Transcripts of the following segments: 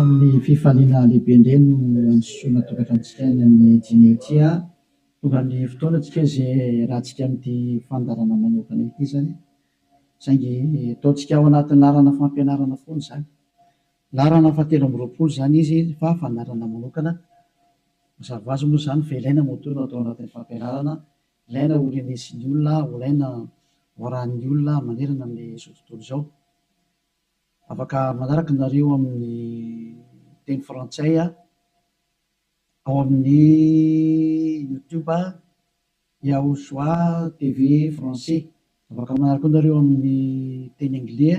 Amin'ny fifaliana lehibe indray no androsoana tokantranontsika any amin'ny dimy eo ity a! Tonga ny fotoana tsika izay hiarahantsika amin'ity fandaharana manokana ity izany, saingy ataontsika ao anaty laharana fampianarana foana izany. Laharana fahatelo amby roapolo izany izy fa fandaharana manokana. Mazava azy moa izany fa ilaina moa toa no atao anatin'ny fampianarana, ilaina ho renesin'ny olona, ho ilaina ho arahin'ny olona manerana amin'izao tontolo izao. Afaka manaraka nareo amin'ny teny frantsay ao amin'ny youtube Yahushua TV français. Afaka manaraka koa nareo amin'ny teny anglais.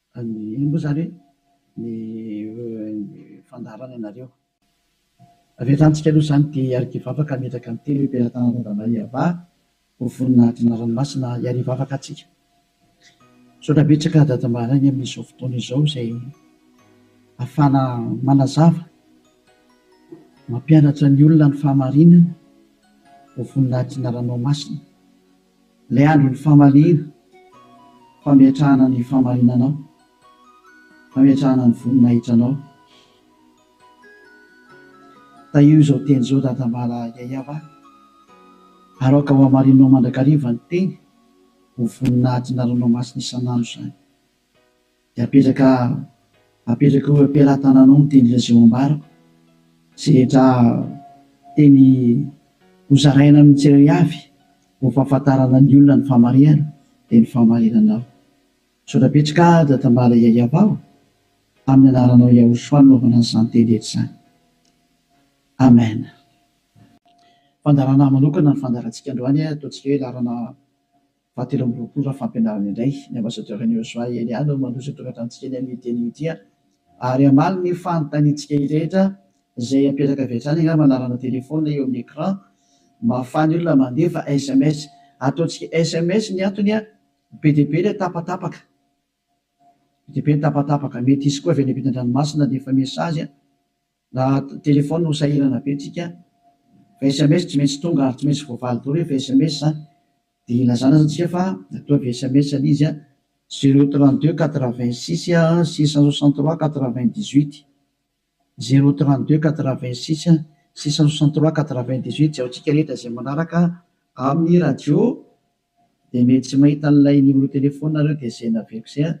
Fa ny ino moa izany hoe ny fandaharana ianareo? Avy hatrany tsika aloha izany dia hiarika hivavaka hametraka ny telo emperatany Randamay Yavah ho voninahitry ny ranomasina hiary hivavaka atsika. Misaotra betsaka Dada Mahalagny amin'izao fotoana izao izay afahana manazava, mampianatra ny olona ny fahamarinana ho voninahitry ny Ranomasina. Ilay andron'ny famaliana, fametrahana ny fahamarinanao, fametrahana ny voninahitranao. Tahio izao teny izao dadambala Yayab a! ary aoka ho hamarininao mandrakariva ny teny ho voninahitry ny ranomasina isan'andro izany. Dia apetraka apetraka eo am-pelatananao ny teny reseau ambarako, izay rehetra teny hozaraina amin'ny tsirairay avy ho fahafantarana ny olona ny famarihana dia ny famarinanao. Misaotra betsaka aho Dada Mala Yayabao amin'ny anaranao Yahoshua nanaovana an'izany teny rehetra izany. Amen. Fandaharana manokana ny fandaharantsika androany, ataontsika hoe laharana. Fahatelo amby roapolo raha fampianarana indray, ny Ambasadaoro Henry Joshua Elia no mandroso an-tokantranotsika eny amin'io teny io ity ary ary hamaly ny fanontaniantsika rehetra izay apetraka avy hatrany angamba anarana telefaonina eo amin'ny écran mba hahafahan'ny olona mandefa sms. Ataontsika sms ny antony an! Be dia be ilay tapatapaka. Be dia be ny tapatapaka. Mety hisy koa avy any ampitan-dranomasina handefa message an! Na telefaonina ho sahirana be tsika fa sms tsy maintsy tonga ary tsy maintsy voavaly daholo rehefa sms dia ilazana aza tsika fa ataovy sms anie izy zero trente deux quatre vingt six six cent soixante trois quatre vingt dix huit zero trente deux quatre vingt six six cent soixante trois quatre vingt dix huit jaontsika rehetra izay manaraka amin'ny radio dia mety tsy mahita an'ilay numéro telefaoninareo dia izay naveriko izay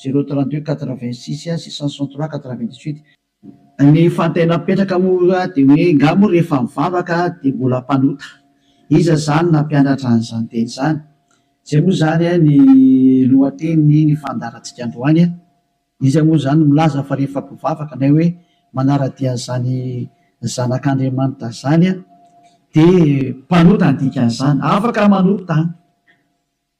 zero trente deux quatre vingt six six cent soixante trois quatre vingt dix huit Ny fantena mipetraka moa dia hoe nga moa rehefa mivavaka dia mbola mpanota? Iza izany nampianatra an'izany teny izany? Izay moa izany ny lohatenin'iny fandaharantsika androany. Iza moa izany no milaza fa rehefa mpivavaka na hoe manara-dia an'izany zanak'Andriamanitra izany dia mpanota ny dikan'izany? Afaka manota an!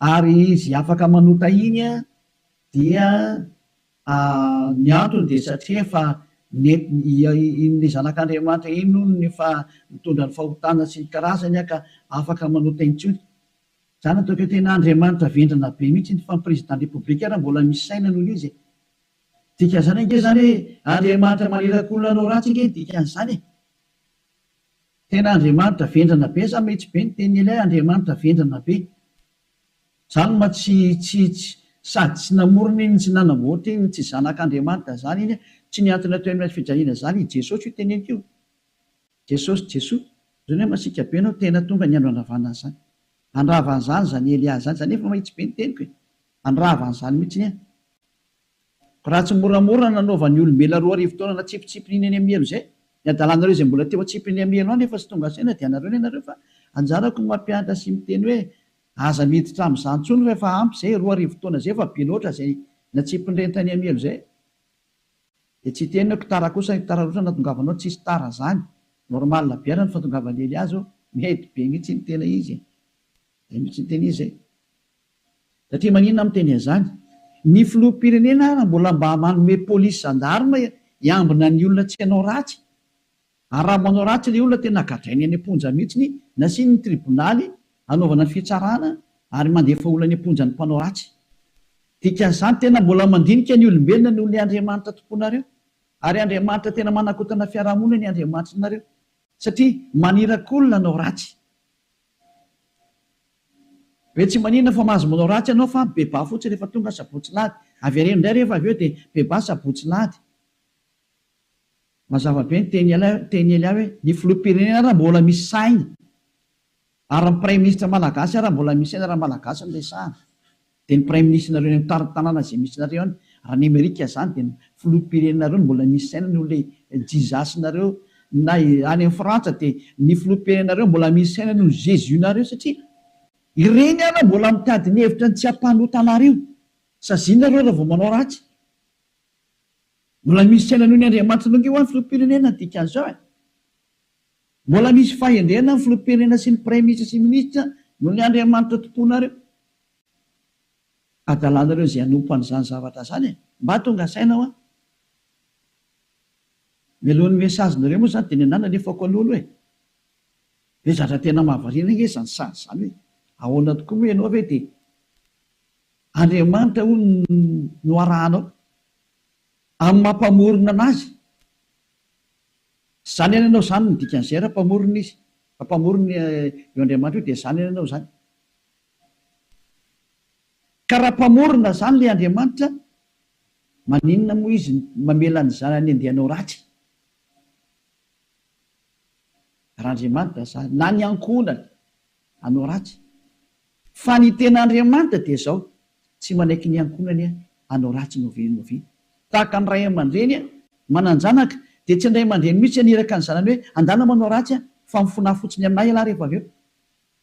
Ary izy afaka manota iny an, dia ny antony dia satria efa iny zanak'Andriamanitra iny hono no efa nitondra ny fahotana sy ny karazany an ka afaka manota intsony. Za nataoko hoe tena Andriamanitra vendrana be mihitsy iny fa ny président république ary mbola misy saina noho izy e! Dikan'izany ange zany hoe Andriamanitra manirakolona anao ratsy ange ny dikan'izany e! Tena Andriamanitra vendrana be sa mety be ny teny ilay Andriamanitra vendrana be? Zany ma tsy tsy tsy sady tsy namorona iny tsy nanamboatra iny tsy zanak'Andriamanitra zany iny tsy ny antony atao eny fijaliana zany i Jesosy io teneniko io Jesosy Jesoa zany hoe masiaka be anao tena tonga ny andro handravana an'zany handravana zany zany Elia zany za nefa mahitsy be ny teniko e handravana zany mitsiny an! Raha tsy moramora nanaovan'ny olombelona roa arivo taona natsipitsipin'iny any Amielo izay, ny hadalanareo izay mbola teo an-tsipin'ny Amielo any efa tsy tonga saina dia anareo ny anareo fa anjarako ny mampiantra sy miteny hoe aza miditra amin'izany intsony fa efa ampy izay, roa arivo taona izay efa be loatra izay natsipin'ny reiny tany Amielo izay dia tsy hiteny hoe ktara kosa ny ktara loatra natongavanao tsisy tara izany, normal be ary ny fatongavan'i Eliazo, mety be mihintsy ny tena izy e! izay mihintsy ny tena izy e! Satria maninona aho miteny an'izany? Ny filoham-pirenena ary mbola mba manome polisy zandarma hiambina ny olona tsy hanao ratsy. Ary raha manao ratsy ilay olona tena gadrainy any am-ponja mihitsy, nasiany ny tribonaly hanaovana ny fitsarana ary mandefa olona any am-ponja ny mpanao ratsy. Dikan'izany tena mbola mandinika ny olombelona noho ny Andriamanitra tomponareo. Ary Andriamanitra tena manakotana fiarahamonina ny Andriamanitrinareo. Satria maniraky olona hanao ratsy. Hoe tsy maninona fa mahazo manao ratsy ianao fa bebà fotsiny rehefa tonga sabotsy lahady. Avereno indray rehefa avy eo dia bebà sabotsy lahady. Mazava be ny teny ialahy teny ialahy hoe ny filoham-pirenena ary mbola misy saina ary ny praiminisitra malagasy ary mbola misy saina raha malagasy no resahana. Dia ny praiminisitrinareo eny amin'ny tanàna izay misy nareo any raha any amerika zany dia ny filoham-pirenenareo no mbola misy saina noho ilay jizasinareo na any amin'ny frantsa dia ny filoham-pirenenareo mbola misy saina noho ny jesus nareo satria ireny ary mbola mitady ny hevitra ny tsy hampanota anareo saziana reo raha vao manao ratsy mbola misy saina noho ny andriamanitra nareo ho'a ny filoham-pirenena ny dikan'izao e mbola misy fahendrena ny filoham-pirenena sy ny praiminisitra sy ny minisitra noho ny andriamanitra tomponareo adalanareo izay hanompo an'izany zavatra izany e! Mba tonga saina hoa. Mialohan'ny message nareo moa zany dia ny anah nalefako alolo e! Dia zatra tena mahavariana nge izany sazy izany hoe ahoana tokoa moa ianao ve dia Andriamanitra hono no arahanao amin'ny maha mpamorona anazy? Zany any ianao zany no dikan'izay raha mpamorona izy, raha mpamorona io Andriamanitra io dia zany any ianao zany. Ka raha mpamorona zany le Andriamanitra maninona moa izy mamela ny zanany andeha hanao ratsy? Raha Andriamanitra zany na ny ankohonany hanao ratsy? Fa ny tena Andriamanitra dia zao tsy manaiky ny ankohonany hanao ratsy novi novi tahaka ny ray aman-dreny manan-janaka dia tsy ny ray aman-dreny mihitsy haniraka ny zanany hoe andana manao ratsy fa mifona fotsiny aminay ialahy rehefa avy eo.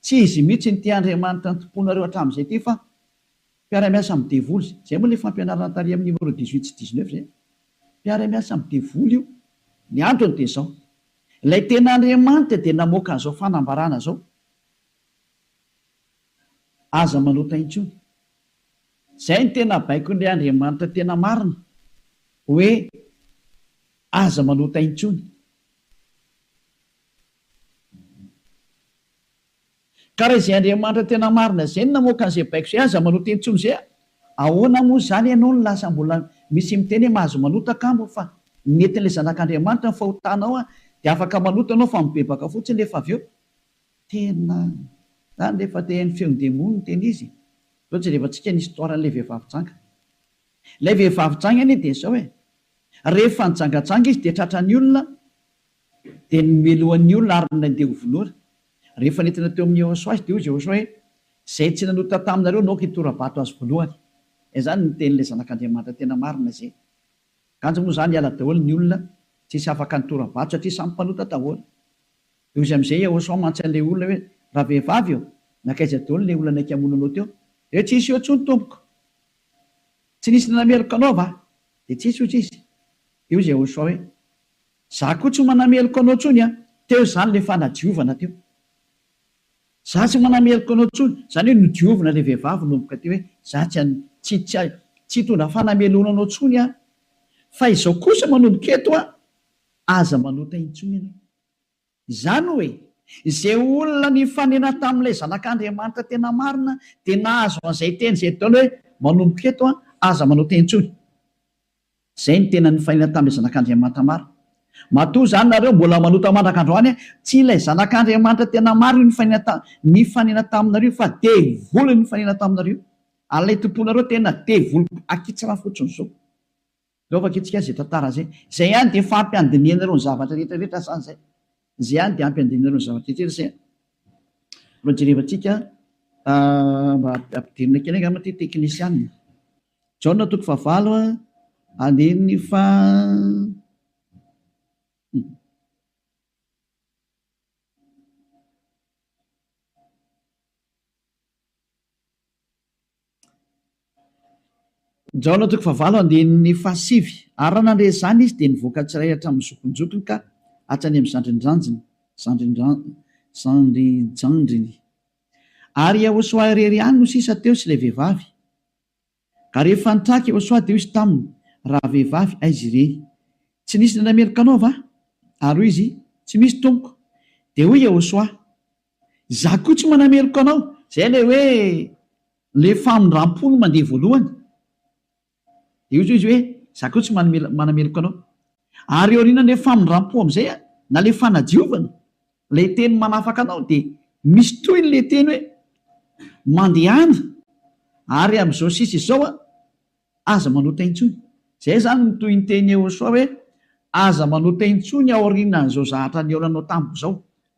Tsy izy mihitsy no tia Andriamanitra nitompoanareo hatramin'izay ity fa mpiara-miasa amin'ny devoly izay. Izay moa ilay fampianarana tary amin'ny numéro dix huit sy dix neuf izay. Mpiara-miasa amin'ny devoly io. Ny antony dia izao. Ilay tena Andriamanitra dia namoaka an'izao fanambarana izao, Aza manota intsony. Izay no tena baikon'ilay Andriamanitra tena marina, hoe aza manota intsony. Ka raha izay Andriamanitra tena marina izay no namoaka an'izay baiko izay, aza manota intsony izay a! Ahoana moa izany ianao no lasa mbola misy miteny hoe mahazo manota kamo fa ny netin'ilay Zanak'Andriamanitra no fahotanao a! Dia afaka manota ianao fa mibebaka fotsiny nefa avy eo tena zany ilay fa te ny feon'ny demony no tena izy e! Zao jerevantsika ny histoire an'ilay vehivavy janga. Ilay vehivavy janga anie dia izao e! Rehefa nijangajanga izy dia tratran'ny olona Dia nomelohany ny olona ary nandeha ho vonoina. Rehefa nentina teo amin'i Yehosua izy, dia hoy Yehosua hoe, Izay tsy nanota taminareo no aoka hitora-bato azy voalohany. Izany no tenin'ilay Zanak'Andriamanitra tena marina izay. Ganjy moa izany hiala daholo ny olona tsisy afaka nitora-bato satria samy mpanota daholo. Dia hoy izy amin'izay Yehosua mantsy an'ilay olona hoe, Ravehivavy ô, nankaiza daholo ilay olona naika hamono anao teo? Dia hoe, Tsy nisy eo intsony tompoko. Tsy nisy nanameloka anao va? Dia tsy nisy, hoy izy. Dia hoy Yehosua hoe, Za koa tsy manameloka anao tsony an! Teo izany le fanadiovana teo. Za tsy manameloka anao tsony, zany hoe nodiovina le vehivavy nomboka teo hoe za tsy an, tsy, tsy, tsy hitondra fanameloana anao tsony aho. Fa izao kosa manomboka eto an, aza manota intsony ianao. Izany hoe, izay olona nifanena tamin'ilay Zanak'Andriamanitra tena marina dia nahazo an'izay teny izay ataony hoe, Manomboka eto, aza manao teny intsony. Izay no tena nifanena tamin'ilay Zanak'Andriamanitra marina. Matoa izany nareo mbola manota mandraka androany, tsy ilay Zanak'Andriamanitra tena marina io nifanena nifanena taminareo fa devoly nifanena taminareo. Ary ilay tomponareo tena devoly akitsra fotsiny izao. Aleo vakintsika izay tantara izay. Izay ihany dia efa ampy handinihana ireo ny zavatra rehetra rehetra sa izay? Izay ihany dia ampy handinihana ireo ny zavatra rehetra rehetra izay? Mba jerevantsika mba ampidirina kely angamba ity teknisianina. Jaona toko fahavalo andininy faha Jaona toko fahavalo andininy fahasivy Ary raha nandre izany izy, dia nivoaka tsy iray hatramin'ny zokinjokiny ka hatrany amin'ny zandrinjandriny, zandrinjandriny. Ary i Iehosoa irery ihany no sisa teo sy ilay vehivavy. Ka rehefa nitraka Iehosoa, dia hoy izy taminy, Rahavehivavy, aiza ireny? Tsy nisy nandray meloka anao va? Ary hoy izy, Tsy misy, tompoko. Dia hoy Iehosoa, Izaho koa tsy manameloka anao. Izay ilay hoe ilay famindram-po no mandeha voalohany. Dia hoy izy hoe, Izaho koa tsy manameloka anao. Ary eo aorianan'ilay famindram-po amin'izay, na ilay fanadiovana, ilay teny manafaka anao, dia misy tohiny ilay teny hoe, Mandehana, ary amin'izao sisa izao aho. Aza manota intsony. Izay izany no tohin-teny Eosoa hoe, Aza manota intsony aorianan'izao zahatra nihaonanao tamiko izao.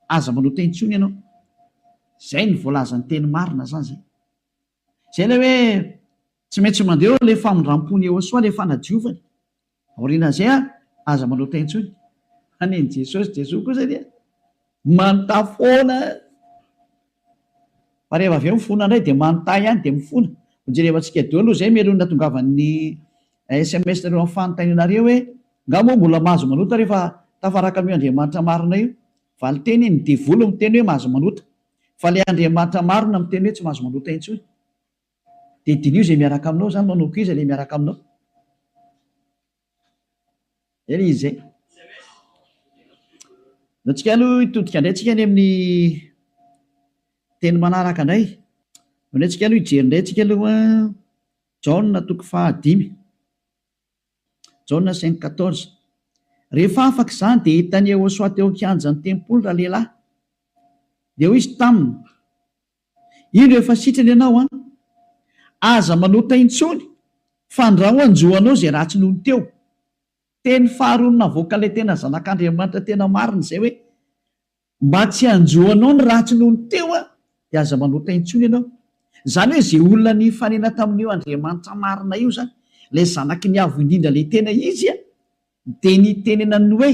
Aza manota intsony ianao. Izay no voalazan'ny teny marina izany izay. Izay ilay hoe tsy maintsy mandeha eo ilay famindram-pon'i Eosoa, ilay fanadiovany. Aoriana izay ary, aza manota intsony, fa nen'i Jesosy, Jesoa kosa dia manota foana. Fa rehefa avy eo mifona indray dia manota ihany dia mifona. Ho jerevantsika daholo izay mialohan'ny hatongavan'ny sms nareo amin'ny fanontanianareo hoe, Nga moa mbola mahazo manota rehefa tafaraka amin'io Andriamanitra marina io? Valinteny, ny devoly miteny hoe mahazo manota. Fa ilay Andriamanitra marina miteny hoe tsy mahazo manota intsony. Dia diniho izay miaraka aminao izany, manaoko iza ilay miaraka aminao? Dia ilay izy izay. Dia antsika aloha hitodika indray tsika any amin'ny teny manaraka indray. Dia indray tsika aloha hijery indray tsika aloha Jaona toko fahadimy. Jaona cinq quatorze. Rehefa afaka izany dia hitan'i Yehosoa teo an-kianjan'ny tempoly ralehilahy. Dia hoy izy taminy, Indro efa sitrana ianao an! Aza manota intsony fandrao hanjo anao izay ratsy nony teo. Teny faharoa navoaka ilay tena zanak'Andriamanitra tena marina izay hoe, mba tsy hanjo anao ny ratsy nony teo an, dia aza manota intsony ianao. Izany hoe izay olona nifanena tamin'io Andriamanitra marina io izany, ilay zanaky ny Avo indrindra ilay tena izy an, dia nitenenany ny hoe,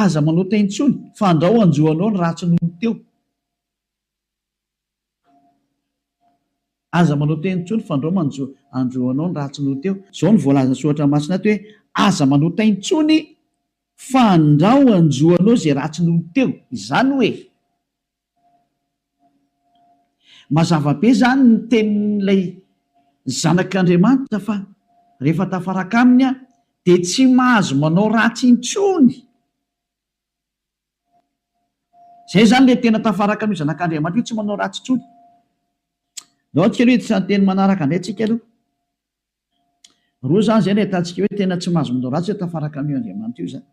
aza manota intsony fandrao hanjo anao ny ratsy nony teo. Aza manao teny intsony fa ndrao manjo andro anao ny ratsy noho teo. Izao no voalazan'ny soratra masina ato hoe, Aza manao tay intsony fa ndrao anjo anao izay ratsy noho teo. Izany hoe, mazava be izany ny tenin'ilay zanak'Andriamanitra fa rehefa tafaraka aminy aho dia tsy mahazo manao ratsy intsony. Izay izany ilay tena tafaraka amin'io zanak'Andriamanitra io, tsy manao ratsy intsony. Andao antsika aloha hiditra ny teny manaraka indray tsika aloha. Roa izany izay no ahitantsika hoe tena tsy mahazo manao ratsy hoe tafaraka amin'io Andriamanitra io izany.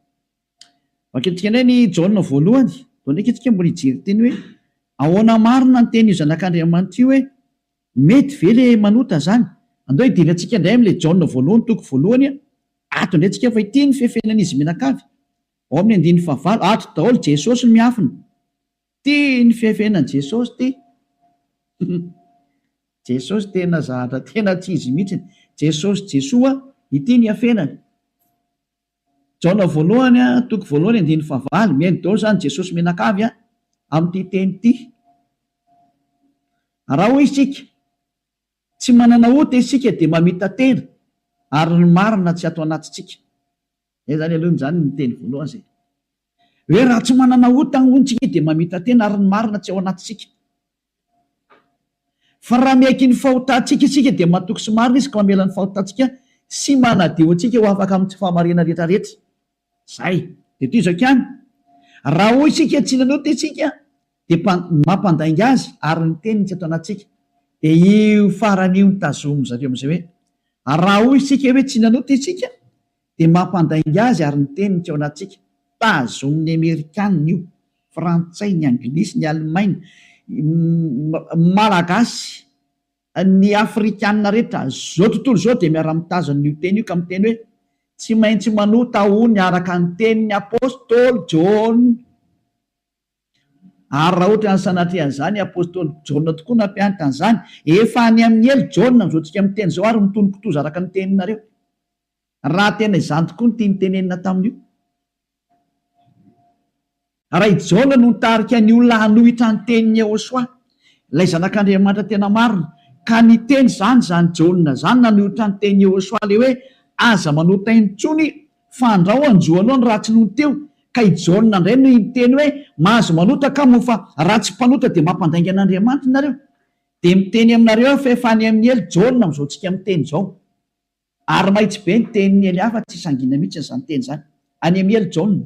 Vakintsika indray ny Jaona voalohany, vao ndraika isika mbola hijery teny hoe ahoana marina ny tenin'io zanak'Andriamanitra io hoe mety ve ilay manota izany. Andao hidina antsika indray amin'ilay Jaona voalohany toko voalohany ato indray tsika fa ity no fihafenan'izy mianakavy. Ao amin'ny andininy fahavalo, ato daholo Jesosy no miafina. Tia ny fihafenany Jesosy ty. Jesosy tena zahatra tena tsy izy mihitsy. Jesosy Jesoa ity ny hafenany. Jaona voalohany a, toko voalohany andininy fahavalo, mihaino daholo izany Jesosy mianakavy a, amin'ity teny ity. Raha hoy isika, tsy manana ota isika dia mamita-tena ary ny marina tsy ato anatintsika. Zay zany aloha zany ny teny voalohany zay hoe raha tsy manana ota hono tsika dia mamita tena ary ny marina tsy ao anatintsika. Fa raha miaiky ny fahotantsika isika dia matoky sy marina izy ka mamela ny fahotantsika sy manadio antsika ho afaka amin'ny tsy fahamariana rehetra rehetra. Zay. Dia toy izao ihany. Raha hoy isika tsy nanota isika Dia mpa, ny mampandainga azy ary ny teniny tsy ato anatintsika. Dia io farany io no tazomin-dry zareo amin'izay hoe, ary raha hoy isika hoe tsy nanota isika, dia mampandainga azy ary ny teniny tsy ao anatintsika. Tazomin'ny Amerikana io, Frantsay, ny Anglisy, ny Alemaina, ny Malagasy, ny Afrikana rehetra izao tontolo izao dia miara-mitazona io teny io ka miteny hoe, tsy maintsy manota hono araka ny tenin'ny Apostoly Jaona. Ary raha ohatra ny sanatria an'izany apostoly Jaona tokoa nampianatra an'izany, efa any amin'ny ela Jaona amin'izao tsika miteny izao ary mitony kitoza araka ny teninareo. Raha tena izany tokoa ny tiany tenenina tamin'io. Raha i Jaona no nitarika ny olona hanohitra ny tenin'i Yehosua, ilay zanak'Andriamanitra tena marina, ka niteny izany izany Jaona izany nanohitra ny tenin'i Yehosua ilay hoe aza manota intsony Fandrao anjo aloha ny ratsy nony teo ka i Jaona ndray no hiteny hoe mahazo manota ka moa fa raha tsy mpanota dia mampandainga an'Andriamanitra nareo dia miteny aminareo aho fa efa any amin'ny helo Jaona amin'izao tsika miteny izao ary mahitsy be ny tenin'ny hely hafa tsy sangina mihitsy izany teny izany any amin'ny helo Jaona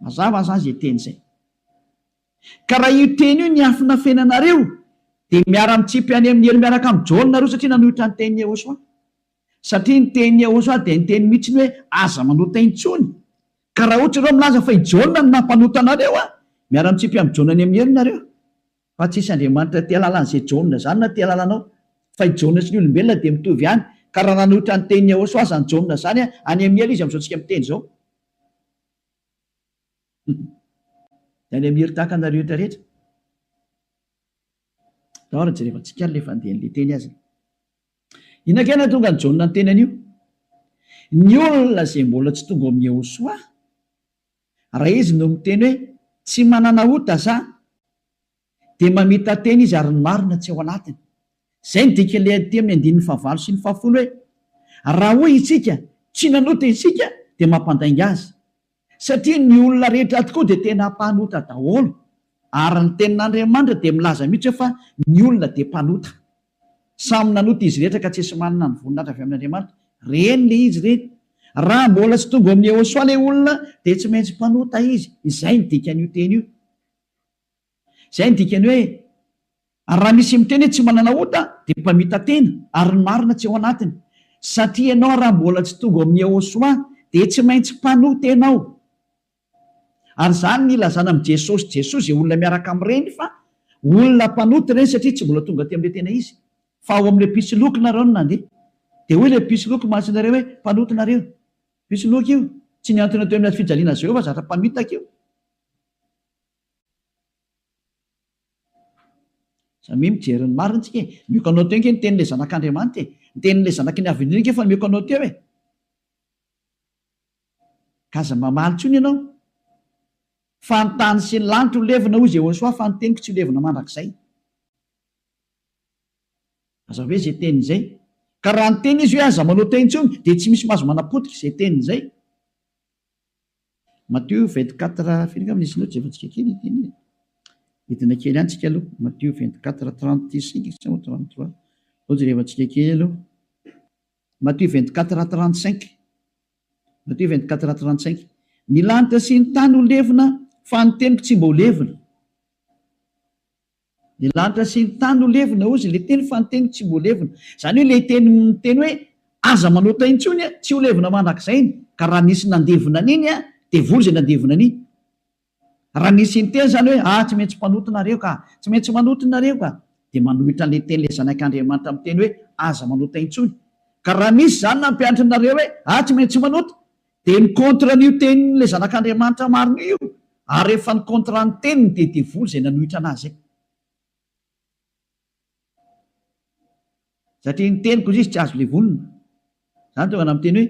Mazava aza izay teny izay. Ka raha io teny io niafina feno anareo dia miara mitsipy any amin'ny helo miaraka amin'i Jaona nareo satria nanohitra ny tenin'i Yehosua. Satria ny tenin'i Yehosua dia niteny mihitsy ny hoe aza manota intsony. Ka raha ohatra ianao milaza fa i Jaona no nampanota anareo an! miara mitsipy amin'i Jaona any amin'ny helo nareo. Fa tsisy Andriamanitra tia alala an'izay Jaona izany na tia alala anao. Fa i Jaona sy ny olombelona dia mitovy ihany. Ka raha nanohitra ny tenin'i Yehosua aza ny Jaona izany an! any amin'ny helo izy amin'izao tsika miteny izao. Any Amir tahaka anareo eto rehetra. Tao ary jereo fa tsy k'al le fandehan le teny azy. Inona kay nahatonga an'i Jaona niteny an'io? Ny olona izay mbola tsy tonga ao amin'i Yehosoa, raha izy no miteny hoe tsy manana ota za, dia mamita-tena izy ary ny marina tsy ao anatiny. Izay no dikan'ilay adin-teny amin'ny andininy fahavalo sy ny fahafolo hoe, Raha hoy isika, Tsy nanota isika, dia mampandainga azy. Satria ny olona rehetra tokoa dia tena mpanota daholo. Ary ny Tenin'Andriamanitra dia milaza mihitsy hoe fa ny olona dia mpanota. Samy nanota izy rehetra ka tsy esy manana ny voninahitra avy amin'Andriamanitra. Reny le izy reny. Raha mbola tsy tonga ao amin'i Yehosoa le olona dia tsy maintsy mpanota izy. Izay no dikan'io teny io. Izay no dikany hoe raha misy miteny hoe tsy manana ota dia mpamita-tena ary ny marina tsy ao anatiny. Satria ianao raha mbola tsy tonga ao amin'ny Yehosua dia tsy maintsy mpanota-tena ao. Ary izany no ilazana amin'i Jesosy Jesoa izay olona miaraka amin'ireny fa olona mpanota ireny satria tsy mbola tonga aty amin'ilay tena izy. Fa ao amin'ilay mpisoloky nareo no nandeha. Dia hoy ilay mpisoloky masin'ireo hoe, Mpanota nareo. Mpisoloky io. Tsy nihantona teo amin'ny hazofijaliana Jehovah zatra mpamitaka io. Za mi mijery ny marina tsika e! Mioka anao teo ange ny tenin'ilay zanak'Andriamanitra e! Ny tenin'ilay zanaky ny Avenir ange efa mioka anao teo e! Ka aza mamaly intsony ianao fa ny tany sy ny lanitra ho levona hoy Jehosoa fa ny teniko tsy ho levona mandrakizay. Aza hoe izay teny izay. Ka raha niteny izy hoe aza manao teo intsony dia tsy misy mahazo manapotika izay teny izay. Matio vingt quatre firy angamba nisy notes efa tsika kely ity e. Hidina kely ihany tsika aloha. Matio vingt quatre trente cinq sa moa trente trois. Sao jereva tsika kely aloha. Matio vingt quatre trente cinq. Matio vingt quatre trente cinq. Ny lanitra sy ny tany ho levona fa ny teniko tsy mba ho levona. Ny lanitra sy ny tany no levona, hozy ilay teny, fa ny teniko tsy mbo levona. Izany hoe ilay teny miteny hoe, aza manota intsony an, tsy ho levona mandrakizay iny, ka raha nisy nandevona an'iny an, dia vory izay nandevona an'iny. Raha nisy niteny izany hoe, ah, tsy maintsy mpanota nareo ka, tsy maintsy manota nareo ka, dia manohitra an'ilay teny ilay Zanak'Andriamanitra miteny hoe, aza manota intsony. Ka raha nisy izany nampianatrinareo hoe, ah, tsy maintsy manota, Dia ny contre an'io tenin' ilay zanak' Andriamanitra marina io, ary rehefa ny contrat ny teniny dia devoly izay nanohitra anazy izay. Satria ny teniko hozy izy tsy azo levonina. Izany tonga na miteny hoe,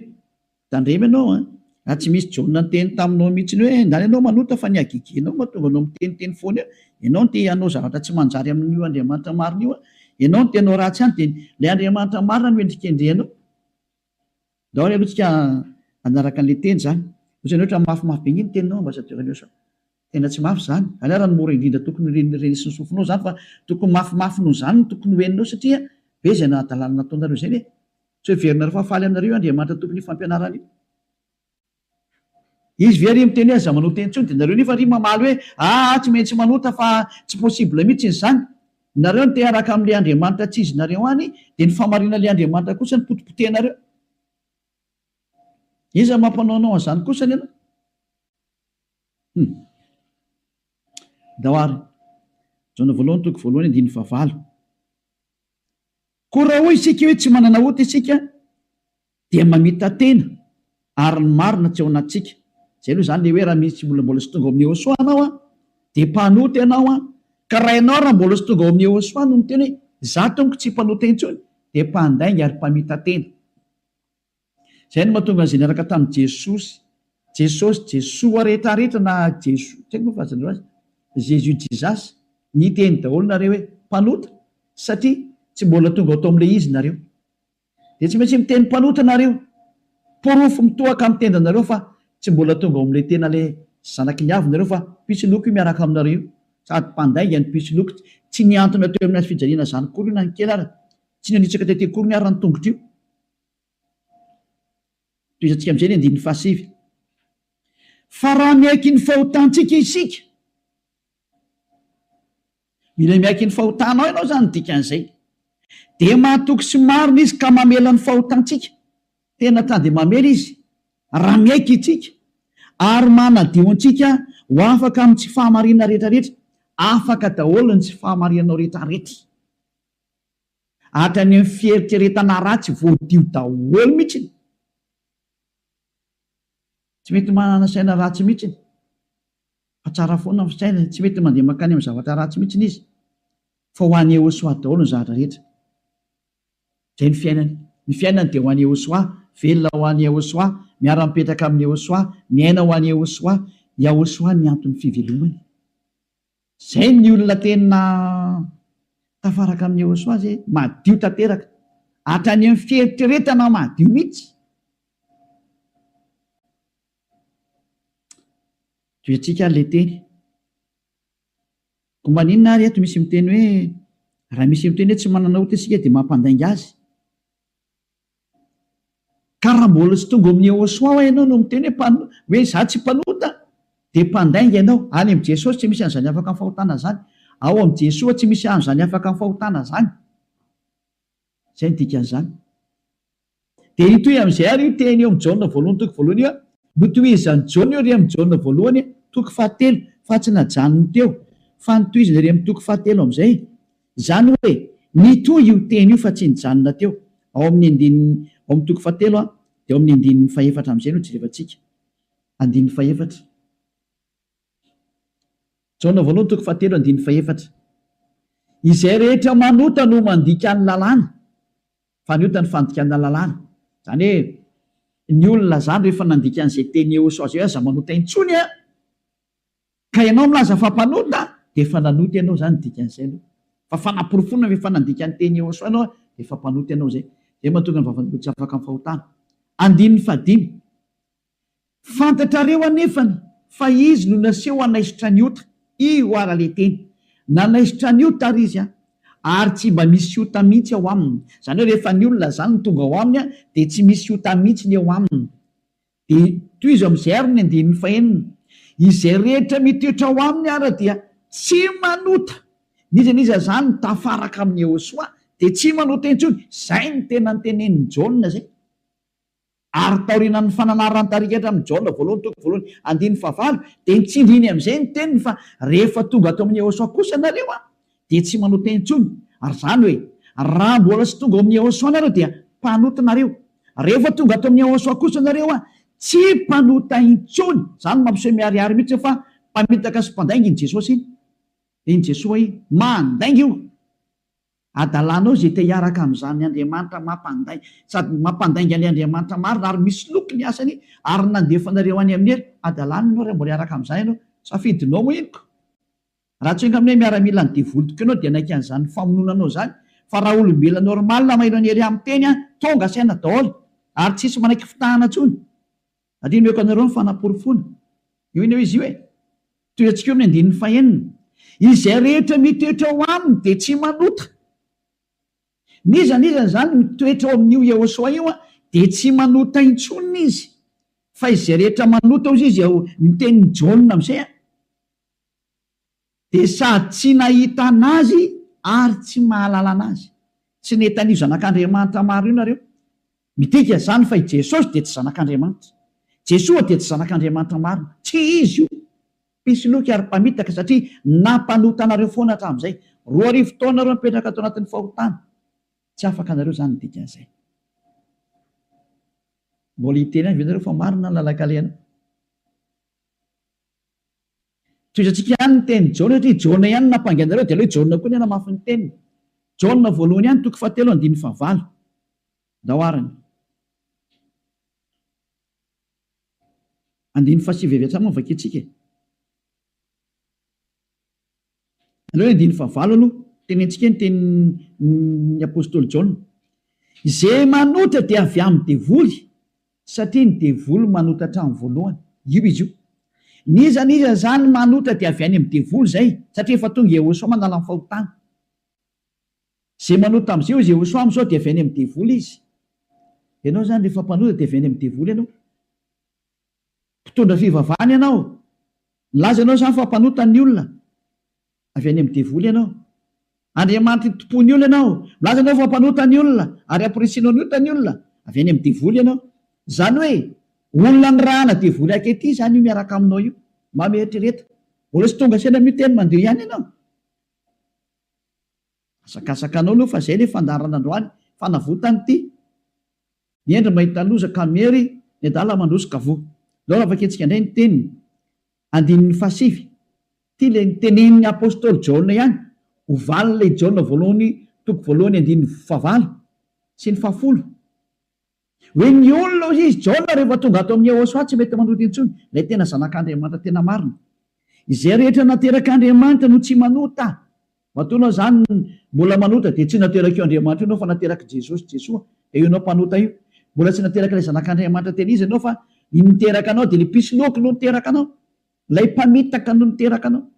tandremo ianao an! Raha tsy misy Jaona niteny taminao mihitsiny hoe, ndany ianao manota fa ny hagegenao mahatonga anao miteniteny foana eo, ianao no te hanao zavatra tsy manjary amin'io Andriamanitra marina io an! Ianao no te hanao ratsy ihany dia ilay Andriamanitra marina no endrikendrehanao. Daholo aloha tsika hanaraka anle teny zany, ohatrany hoe ohatrany mafimafy be ny teninao ambassadeur Nioso a! tena tsy mafy zany, any ara ny mora indrindra tokony ho ren'ny reny sy ny sofinao zany fa tokony mafimafy noho zany no tokony ho henonao satria be zay nahadalana nataonareo zay ve? tsy ho heverinareo fa faly aminareo io Andriamanitra tompon'io fampianarana io. Izy ve ry miteny hoe aza manota intsony dia nareo nefa ry mamaly hoe aa tsy maintsy manota fa tsy possible mitsiny izany. Nareo no te hiaraka amin'ilay Andriamanitra tsy izinareo any dia ny fahamarinan'ilay Andriamanitra kosa no potipotehinareo. Iza no mampanaonao an'izany kosa anie ianao? Hum. Andao ary. Jaona voalohany toko voalohany andininy fahavalo. Koa raha hoy isika hoe tsy manana ota isika dia mamita-tena ary ny marina tsy ao anatintsika. Izay aloha izany le hoe raha misy olona mbola tsy tonga ao amin'ny Yehosua anao an, dia mpanota ianao an, ka raha ianao raha mbola tsy tonga ao amin'ny Yehosua no miteny hoe za tompoko tsy mpanota intsony dia mpandainga ary mpamita-tena. Izay no mahatonga an'izay niaraka tamin'i Jesosy, Jesosy, Jesoa rehetra rehetra na Jeso, tsy haiko moa filazanareo azy, Jésus, Jesus, niteny daholo nareo hoe mpanota satria tsy mbola tonga ao tamin'ilay izy nareo. Dia tsy maintsy miteny mpanota nareo. Porofo mitohaka amin'ny tendanareo fa tsy mbola tonga ao amin'ilay tena ilay zanaky ny avy nareo fa mpitsiloky io miaraka aminareo io. Sady mpandainga ny mpitsiloky. Tsy nihantona teo amin'ny hazofijaliana izany akory io na ny kely ary. Tsy nanitsaka tety akory ny ary ny tongotra io. Tohizantsika amin'izay ny andininy fahasivy. Fa raha miaiky ny fahotantsika isika, mila miaiky ny fahotanao ianao izany ny dikan'izay, dia mahatoky sy marina izy ka mamela ny fahotantsika, tena ka dia mamela izy raha miaiky isika, ary manadio antsika ho afaka amin'ny tsy fahamarinana rehetrarehetra, afaka daholo ny tsy fahamarinanao rehetrarehetra. Hatrany amin'ny fieritreretana ratsy voadio daholo mihitsiny. Tsy mety manana saina ratsy mihitsiny fa tsara foana ny fisainany. Tsy mety mandeha mankany amin'ny zavatra ratsy mihitsiny izy fa ho an'i Yehosoa daholo ny zavatra rehetra. Izay ny fiainany. Ny fiainany dia ho an'i Yehosoa, velona ho an'i Yehosoa, miara-mipetraka amin'i Yehosoa, miaina ho an'i Yehosoa. Yahosoa ny anton'ny fivelomany. Zay ny olona tena tafaraka amin'i Yehosua zay, madio tanteraka, hatrany amin'ny fieritreretana madio mihitsy. Toetsika ary le teny. Ko maninona ary eto misy miteny hoe raha misy miteny hoe tsy manana ota isika dia mampandainga azy. Ka raha mbola tsy tonga ao amin'ny Yehosua ho'a ianao no miteny hoe hoe izaho tsy mpanota dia mpandainga ianao. Any amin'i Jesosy tsy misy an'izany afaka amin'ny fahotana izany. Ao amin'i Jesoa tsy misy an'izany afaka amin'ny fahotana izany. Izay no dikan'izany. Dia hitohy amin'izay ary io teny eo amin'i Jaona voalohany toko voalohany io, notohizan'i Jaona io re amin'i Jaona voalohany toko fahatelo fa tsy najanony teo fa notohizany re amin'ny toko fahatelo amin'izay. Izany hoe, mitohy io teny io fa tsy nijanona teo, ao amin'ny andininy, ao amin'ny toko fahatelo a, dia ao amin'ny andininy fahefatra amin'izay no jerevantsika. Andininy fahefatra. Jaona voalohany toko fahatelo andininy fahefatra. Izay rehetra manota no mandika ny lalàna, fa ny ota ny fandikana lalàna. Izany hoe, ny olona izany rehefa nandika an'izay teny eosao izay hoe aza manota intsony a! Ka ianao milaza fa mpanota dia efa nanota ianao izany ny dikan'izay aloha. Fa fanaporofoana ve fa nandika ny teny Yehosua ianao dia efa mpanota ianao izay. Izay mahatonga ny vavan'olona tsy afaka amin'ny fahotana. Andininy fahadimy. Fantatrareo anefany fa Izy no naseho hanaisotra ny ota. Io ara le teny. Nanaisotra ny ota ary Izy ary tsy mba misy ota mihitsy ao aminy. Izany hoe rehefa ny olona izany no tonga ao aminy dia tsy misy ota mihitsy ny eo aminy. Dia tohizo amin'izay ary ny andininy fahenina, Izay rehetra mitoetra ao aminy ary dia tsy manota, n'iza n'iza izany tafaraka amin'i Iehosoa dia tsy manota intsony, izay no tena notenenin'i Jaona izay. Ary taorianan'ny fananaran-tarika hatramin'ny Jaona voalohany toko voalohany andininy fahavalo dia nitsindriny amin'izay ny teniny fa rehefa tonga ato amin'i Iehosoa kosa nareo, dia tsy manao teny intsony, ary izany hoe raha mbola tsy tonga ao amin'i Yehôsoa nareo dia mpanota nareo, rehefa tonga ato amin'i Yehôsoa kosa nareo a, tsy mpanota intsony. Izany mampiseho miharihary mihitsy hoe fa mpamitaka sy mpandainga iny Jesôsy iny. Dia iny Jesôa iny, mandainga io. Adalanao izay te hiaraka amin'izany Andriamanitra mampandai, sady mampandainga an'i Andriamanitra marina ary misoloky ny asany ary nandefa anareo any amin'ny helo, adalanao ianao raha mbola hiaraka amin'izany ianao, safidinao moa inoko. Raha tsy enga mine miaramila ny devoly tokoy anao dia naika an'izany famonoana anao izany fa raha olombelona normal mailo ny area miteny an tonga saina daoly ary tsisy manaiky fitahana tsony ary io nomeko anareo ny fanaporofona io iny hoe izy io e toy antsika eo amin'ny andininy fahenina izay rehetra mitoetra ao aminy dia tsy manota n'iza n'iza izany mitoetra ao amin'io Yehosoa io an dia tsy manota intsony izy fa izay rehetra manota ozy izy ao ny tenin'i Jaona amin'izay an Dia sady tsy nahita an'Azy ary tsy mahalala an'Azy. Tsy nety an'io Zanak'Andriamanitra maro io nareo. Midika izany fa i Jesosy dia tsy Zanak'Andriamanitra. Jesoa dia tsy Zanak'Andriamanitra marina. Tsy Izy io. Mpisoloky ary mpamitaka satria nampanota anareo foana hatramin'izay. Roa arivo taona ireo mipetraka tao anatin'ny fahotana. Tsy afaka nareo izany ny dikan'izay. Mbola hiteny ihany ve nareo fa marina ny lalan-kalehanao? Tohizantsika ihany ny tenin'i Jaona satria i Jaona ihany no nampangainareo dia aleo i Jaona koa ny hanamafy ny teniny. Jaona voalohany ihany toko fahatelo andininy fahavalo. Ndao ary ny. Andininy fahasivy avy hatrany moa no vakiantsika e. Aleo andininy fahavalo aloha tenentsika ny tenin'ny apostoly Jaona, Izay manota dia avy amin'ny devoly, satria ny devoly manota hatramin'ny voalohany. Io izy io. N'iza n'iza izany manota dia avy any amin'ny devoly izay, satria efa tonga Iehôsoa manala ny fahotana. Izay manota amin'izay hoy Iehosoa amin'izao dia avy any amin'ny devoly izy. Ianao izany rehefa mpanota dia avy any amin'ny devoly ianao. Mpitondra fivavahana ianao. Nilaza ianao izany fa mpanota ny olona. Avy any amin'ny devoly ianao. Andriamanitra itompo ny olona ianao. Milaza ianao fa mpanota ny olona ary hampirisianao ny ota ny olona. Avy any amin'ny devoly ianao. Izany hoe olona nirahana devoly ankehitriny izany io miaraka aminao io. Mba mieritrereta. Mbola tsy tonga saina miteny mandeha ihany ianao. Azakazaka anao aloha fa zay le fandaharana androany fanavotany ty ny endry mahita loza ka miery ny adala mandroso ka voa ndao raha vakintsika ndray ny teniny andininy faha sivy ty le nitenenin'ny apostoly jaona ihany ho valin'ilay jaona voalohany toko voalohany andininy faha valo sy ny faha folo Hoe ny olona hoy izy, Jaona rehefa tonga ato amin'i Yehosua tsy mety manota intsony, ilay tena Zanak'Andriamanitra tena marina. Izay rehetra naterak'Andriamanitra no tsy manota. Matoa ianao izany mbola manota dia tsy naterak'io Andriamanitra io ianao fa naterak'i Jesosy, Jesoa, dia io ianao mpanota io. Mbola tsy naterak'ilay Zanak'Andriamanitra tena izy ianao fa ny niteraka anao dia ilay mpisoloky no niteraka anao, ilay mpamitaka no niteraka anao.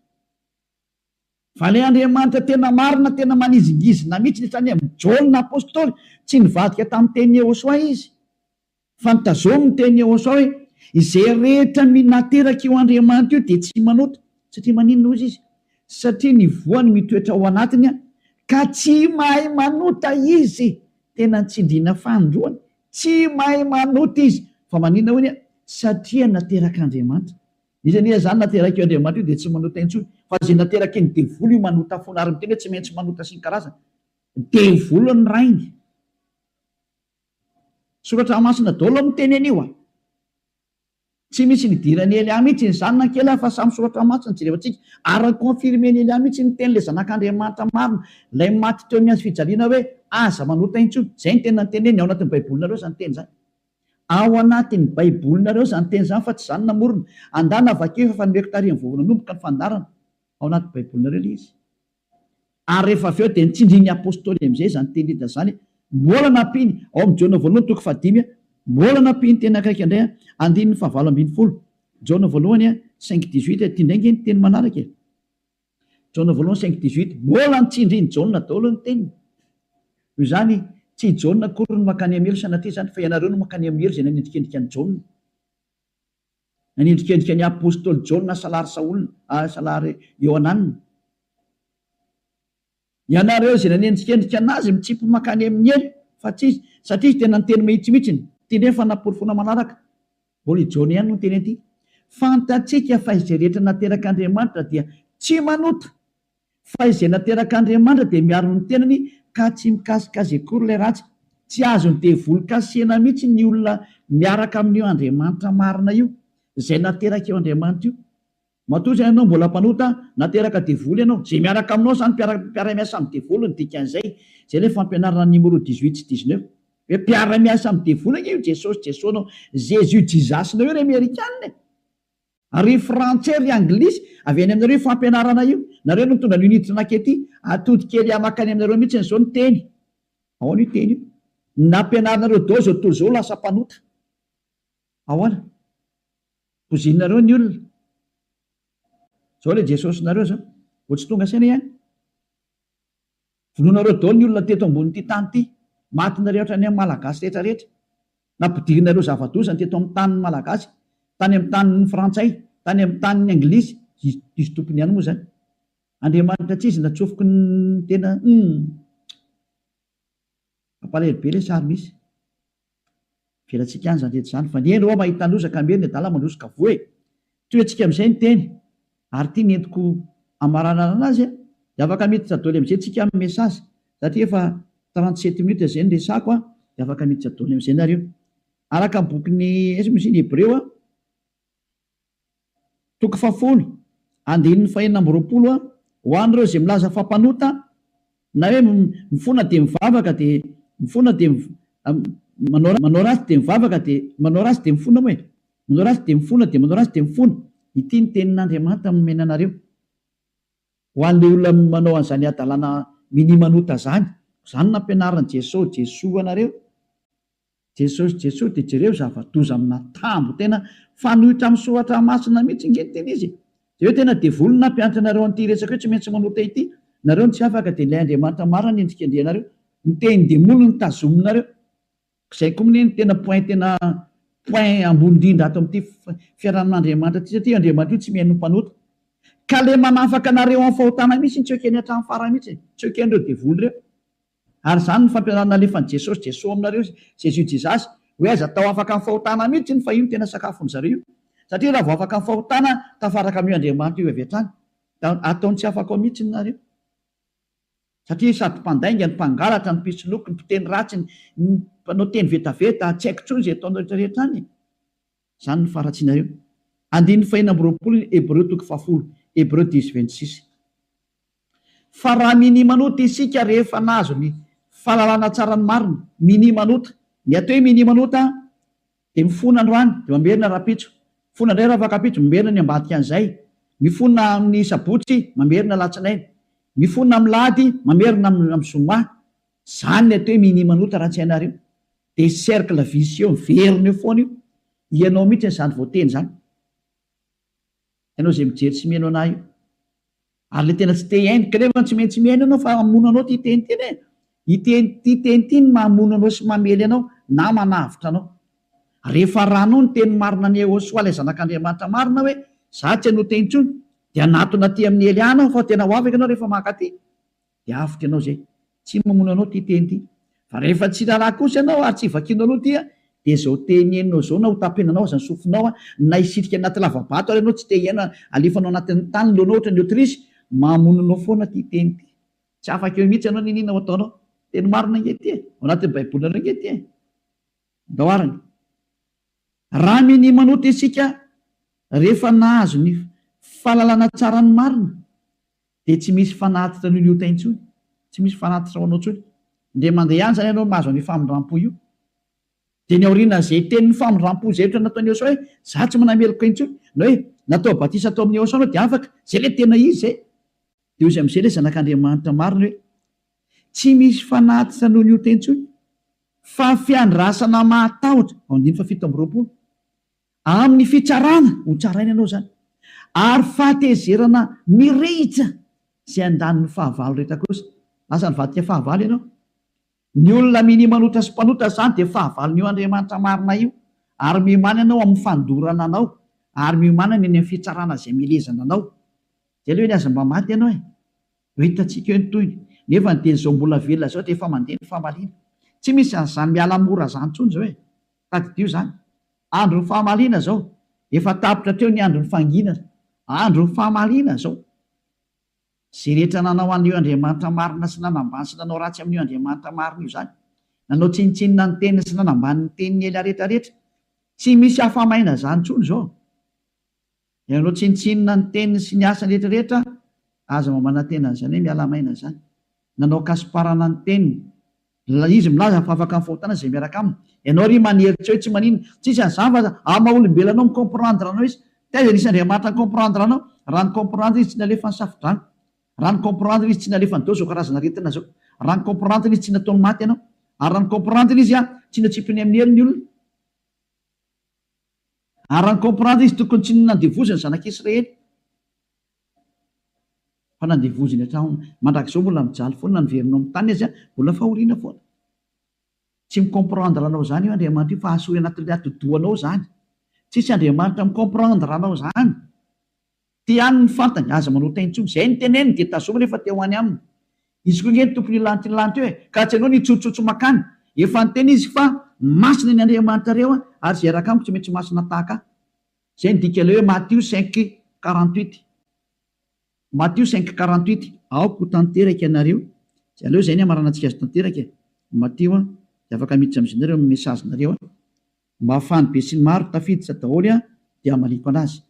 Vale Andriamanitra tena marina tena manizingizina mihitsy ny sainy amin'i Jaona apostoly tsy nivadika tamin'ny teny Yehosoa izy fa nitazomy ny teny Yehosoa hoe izay rehetra minateraka io Andriamanitra io dia tsy manota satria maninona hozy izy satria ny voany mitoetra ao anatiny ka tsy mahay manota izy tena nitsindriana fanindroany tsy mahay manota izy fa maninona hoy satria naterak'Andriamanitra Izy anie izany naterak'io Andriamanitra io dia tsy manota intsony fa izay naterakin'ny devoly io manota foana ary miteny hoe tsy maintsy manota sy ny karazany. Devoly ny rainy. Soratra masina daholo no miteny an'io a! Tsy misy nidiran'i Elia mihitsy izany na kely ary fa samy soratra masina jerevantsika ary ny confirmen'i Elia mihitsy ny tenin'ilay zanak'Andriamanitra marina ilay maty teo amin'ny hazo fijaliana hoe aza manota intsony. Izay ny tena niteneniny ao anatin'ny baibolinareo izany teny izany. Ao anatin'ny Baibolinareo izany teny izany fa tsy izaho no namorona. Andana vakio efa efa nomeko taorian'ny vao nanomboka ny fandaharana. Ao anaty Baibolinareo ilay izy. Ary rehefa avy eo dia nitsindrin'ny Apostoly amin'izay izany teny Lida izany. Mbola nampiany, ao amin'ny Jaona voalohany toko fahadimy, mbola nampiany teny akaiky indray, andininy fahavalo ambin'ny folo, Jaona voalohany cinq dix-huit, ity indray ange ny teny manaraka e. Jaona voalohany cinq dix huit, Mbola ny tsindrin'i Jaona daholo ny teniny. Noho izany, tsy i Jaona akory no mankany amin'ny helo sanatria izany, fa ianareo no mankany amin'ny helo izay nanendrikendrika an'i Jaona. Nanendrikendrika ny apostoly Jaona salary Saolina, salary Iohananina. Ianareo izay nanenjikenjika an'azy mitsipy mankany amin'ny helo fa tsy izy satria izy tena niteny mahitsymihitsiny. Ity indray ny fanaporofoana manaraka. Mbola i Jaona ihany no niteny an'ity. Fantatsika fa izay rehetra naterak'Andriamanitra dia tsy manota. Fa izay naterak'Andriamanitra dia miaro ny tenany ka tsy mikasika azy akory ilay ratsy. Tsy azon'ny devoly kasihina mihitsy ny olona miaraka amin'io Andriamanitra marina io, izay naterak'io Andriamanitra io. Matoa izay ianao mbola mpanota, nateraka devoly ianao, izay miaraka aminao izany mpiara-miasa amin'ny devoly ny dikan'izay, izay ilay fampianarana numéro dix huit sy dix neuf, hoe mpiara-miasa amin'ny devoly ange io Jesosy Jesosnao, Jésus Jesus nao io ry amerikana e! ary ry frantsay ry anglisy, avy any aminareo io fampianarana io, nareo no nitondra an'io niditra nakety, atody kely hamaka any aminareo mihitsiny izao ny teny, ahoana io teny io, ny nampianarinareo daholo izao tontolo izao lasa mpanota. Ahoana? Bozinareo ny olona. Zao le Jesosinareo zao. Vao tsy tonga saina ihany. Vonoinareo daholo ny olona teto ambonin'ity tany ity. Matinareo hatrany amin'ny Malagasy rehetra rehetra. Nampidirinareo zava-doza ny teto amin'ny tanin'ny Malagasy. Tany amin'ny tanin'ny Frantsay. Tany amin'ny tanin'ny Anglisy. Diso tompony ihany moa zany. Andriamanitra tsizy natsofoky ny tena. Humm. Mampalahelo be le sary misy. Avelantsika any izany rehetra izany fa ny eny hoa mahita loza ka miery ny adala mandroso ka voa e! Toy antsika amin'izay ny teny ary ity ny entiko hamaranarana azy a! Dia afaka miditra doly amin'izay tsika amin'ny message satria efa trente sept minutes izay ny resako a! Dia afaka miditra doly amin'izay nareo araka ny bokin'i Hebreo a! Toko fahafolo, andininy fahenina amby roapolo a Ho an'ireo izay milaza fa mpanota, na hoe mifona dia mivavaka dia mifona dia manao manao ratsy dia mivavaka dia manao ratsy dia mifona moa e! manao ratsy dia mifona dia manao ratsy dia mifona, ity ny tenin'Andriamanitra nomena anareo ho an'ilay olona manao an'izany hadalana minia manota izany, izany nampianarin'i Jeso Jesoa anareo. Jesosy Jesosy de jereo zavadoza amina tambo tena fanoitra am soratra masina mitsy nge ny tena izy e! de hoe tena devoly ny nampianatra anareo anty resaka io tsy maintsy manota ity nareo no tsy afaka de ilay Andriamanitra marina ny endrikendrihanareo ny tehin demoly no tazominareo zay ko mne no tena point tena point ambony indrindra ato amty fiarahamin Andriamanitra ty satria io Andriamanitra io tsy mihaino ny mpanota ka le manafaka anareo am fahotana mitsy tsy ekeny atram farany mitsy e! tsy ekenreo devoly reo. Ary izany no fampianarana nalefan'i Jesosy Jeso aminareo izy, Jésus Jesus, hoe aiza tao afaka ny fahotana mihitsy iny fa io no tena sakafon'ny zareo io. Satria raha vao afaka ny fahotana tafaraka amin'io Andriamanitra io avy hatrany. Da ataony tsy afaka ao mihitsy ny nareo. Satria sady mpandainga ny mpangalatra ny mpisoloky ny mpiteny ratsy ny mpanao teny vetaveta tsy haiko intsony izay ataonao rehetra rehetra any e. Izany no faharatsianareo. Andininy fahenina amby roapolo ny Hebreo toko fahafolo, Hebreu dix vingt six. Fa raha minimanota isika rehefa nahazo ny fahalalana tsara ny marina, minimanota, ny atao hoe minimanota dia mifona androany dia mamerina rahampitso, mifona indray rafakampitso, mamerina ny ambadikan'izay, mifona amin'ny sabotsy, mamerina alatsinainy, mifona amin'ny lahady, mamerina amin'ny zoma. Izany ny atao hoe minimanota raha tsy hainareo. Dia cercle vicieux miverina eo foana io, ianao mihitsy izany voateny izany, ianao izay mijery sy mihaino anah io, ary ilay tena tsy te hihaino, ka nefa tsy maintsy mihaino ianao fa hamono anao ity teny ity e, ity ity teny ity no mahamono anao sy mamely anao na manavotra anao, rehefa arahanao ny teny marina an'i Yehosua ilay zanak'Andriamanitra marina hoe izaho tsy hanohitra intsony, dia hanatona aty amin'ny Hely Ana aho fa tena ho afaka ianao rehefa mankaty. dia avotra ianao izay. Tsy mamono anao ity teny ity. Fa rehefa tsy raharaha kosa ianao ary tsy vakianao aloha ity dia izao teny henonao izao na hotapenanao aza ny sofinao na hisitrika anaty lava-bato ary ianao tsy te hihaino halefanao anatin'ny tany ny lohanao ohatran'ny autruche, mamono anao foana ity teny ity. Tsy afaka eo mihitsy ianao n'inona ho ataonao. Teny marina ange ity e! Ao anatin'ny Baibolinareo ange ity e! Andao arany. Raha minia manota isika rehefa nahazo ny fahalalana tsara ny marina Dia tsy misy fanatitra an'io liotay intsony, tsy misy fanatitra ho anao intsony. Indray mandeha ihany izany ianao no mahazo an'io famindram-po io. Dia ny aorianan'izay tenin'ny famindram-po izay ohatra ny nataon'i Eosaoa hoe, Izaho tsy manana meloka intsony, na hoe, Natao batisa tao amin'i Eosaoa ianao dia afaka. Izay ilay tena izy izay. Dia hoy izy amin'izay ilay Zanak'Andriamanitra marina hoe, Tsy misy fanatitra noho ny ota intsony, fa fiandrasana mahatahotra. Andininy fahafito amby roapolo. Amin'ny fitsarana ho tsaraina ianao izany ary fahatezerana mirehitra izay andaniny fahavalo rehetra kosa. Lasa nivadika fahavalo ianao. Ny olona minia manota sy mpanota izany dia fahavalon'io Andriamanitra marina io ary miomana ianao amin'ny fandorana anao ary miomana ny any amin'ny fitsarana izay milezana anao. Izay aloha ve ny azy mba maty ianao e! Ho hitantsika eo ny tohiny. Nefa ny teny izao mbola velona izao dia efa mandeha ny famaliana. Tsy misy an'izany miala mora izany intsony izao e! Tadidio izany. Andron'ny famaliana izao. Efa tapitra hatreo ny andron'ny fanginana. Andron'ny famaliana izao. Izay rehetra nanao an'io Andriamanitra marina sy nanambany sy nanao ratsy amin'io Andriamanitra marina io izany. Nanao tsinontsinona ny teniny sy nanambany ny teniny ela rehetra rehetra. Tsy misy afa-maina izany intsony izao. Ianao tsinontsinona ny teniny sy ny asany rehetra rehetra aza mba manantena an'izany hoe miala maina izany. Nanao kasiparana ny teniny. Ilay izy milaza fa afaka mifahotana izay miaraka aminy. Ianao ary manery tsy eo tsy manina. Tsisy an'izany fa amin'ny maha olombelona anao mi comprendre anao izy. Taiza nisy Andriamanitra ni comprendre anao? Raha ni comprendre izy tsy nalefa ny safodrano. Raha ni comprendre izy tsy nalefa nidao izao karazana aretina izao. Raha ni comprendre izy tsy nataony maty ianao. Ary raha ni comprendre izy tsy notsipiny amin'ny hery ny olona. Ary ny comprendre izy tokony tsy nandevoziny zanak'i Israely fa nandevoziny hatraona. Mandrakizao mbola mijaly foana na niverina ao amin'ny tany aza mbola fahoriana foana. Tsy mi comprendre anao izany io Andriamanitra io fa asory anatin'ny atidohanao izany. Tsisy Andriamanitra mi comprendre anao izany. Te ihany ny fantany, aza manao tain tsony, zay ny teneniny dia tazominy efa te ho any aminy izy koa nge ny tompony hilanty ny lanty eo e, ka tsy anao ny hitsotsotso makany, efa niteny izy fa masina ny Andriamanitrareo a, ary zay raka amiko tsy maintsy masina tahaka ahy, zay ny dika ilay hoe Matio cinq quarante huit, Matio cinq quarante huit. Aoka ho tanteraka ianareo, tsy aleo zay ny hamaranantsika azy tanteraka e, Matio a, de afaka miditra amizay nareo amin'ny message nareo a, mba afahan'ny besinimaro tafiditra daholo a, de hamaliako anazy.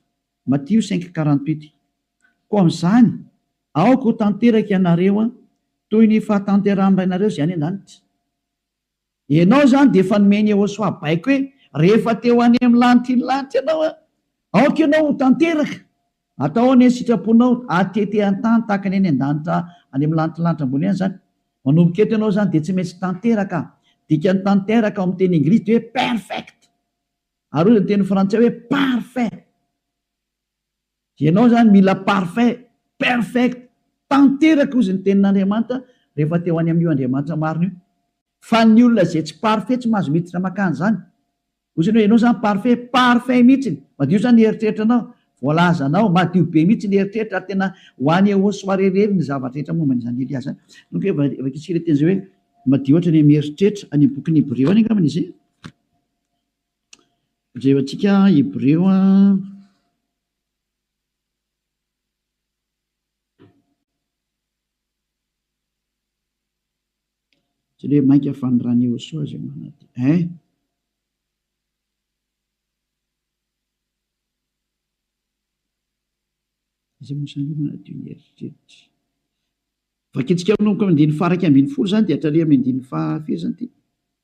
Matio cinq quarante huit Koa amin'izany, aoka ho tanteraka ianareo toy ny fahatanterahan'ny Rainareo izay any an-danitra. Ianao izany dia efa nomeny Yehosua baiko hoe rehefa te ho any amin'ny lanitr'iny lanitra ianao, aoka ianao ho tanteraka. Atao anie ny sitraponao hatete an-tany tahaka ny any an-danitra any amin'ny lanitr'ny lanitra ambony any izany. Manomboka eto ianao izany dia tsy maintsy tanteraka. Dikan'ny tanteraka ao amin'ny teny Engilisy dia hoe perfect. Ary hoy ny teny frantsay hoe parfait. Ianao izany mila parfait, perfect, tanteraka hozy ny tenin'Andriamanitra rehefa te ho any amin'io Andriamanitra marina io. Fa ny olona izay tsy parfait tsy mahazo miditra makany izany. Hoy izany hoe ianao izany parfait, parfait mihitsy, madio izany ny eritreritranao, voalazanao, madio be mihitsy ny eritreritra ary tena ho any au soirée irery ny zavatra rehetra momba an'izany Elia izany. Nony koa efa vakintsika ilay teny izay hoe madio hatrany amin'ny eritreritra, any amin'ny bokin'ny Hebreo any angambany izay. Jereo antsika Hebreo Jereo hoe mainka fanondran'i Iehosoa izay manantena eh. Izay mosany manadio ny eritreritra. Vakintsika manomboka amin'ny andininy faha iraika ambin'ny folo izany dia hatraria amin'ny andininy faha firy izany ity?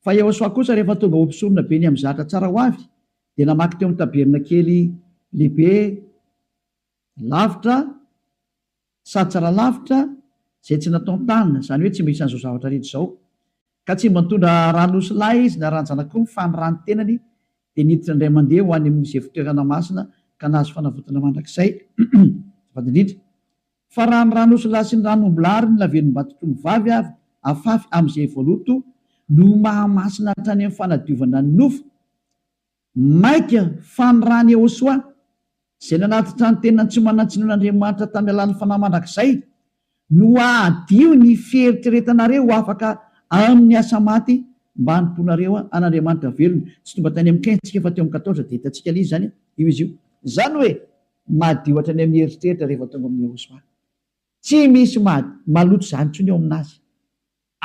Fa Iehosoa kosa rehefa tonga ho mpisorona be ny amin'ny zatra tsara ho avy, dia namaky teo amin'ny tabernakely lehibe lavitra sady tsara lavitra izay tsy nataon-tanana, izany hoe tsy mba isan'izao zavatra rehetra izao. Ka tsy mba nitondra ran'osilahy izy na ran-janak'omby, fa ny ran'ny tenany dia niditra indray mandeha ho any amin'izay fitoerana masina ka nahazo fanavotana mandrakizay. Azafady indrindra. Fa raha ny ran'osilahy sy ny ran'ombilahy ary ny lavelombatotr'ombivavy avy afafy amin'izay voaloto no mahamasina hatrany amin'ny fanadiovana ny nofo, maika fa ny ran'i Ehosoa, izay nanatitra ny tenany tsy manan-tsiny ho an'Andriamanitra tamin'ny alalan'ny fanahy mandrakizay, no hahadio ny fieritreretanareo ho afaka amin'ny asa maty mba hanompoanareo an'Andriamanitra velona. Tsy tonga tany amin'ny Kin, tsika, fa teo amin'ny Kataotra, dia hitantsika ilay izy izany io izy io. Izany hoe, Madio hatrany amin'ny eritreritra rehefa tonga amin'i Yehosua. Tsy misy maha, maloto izany intsony eo aminazy.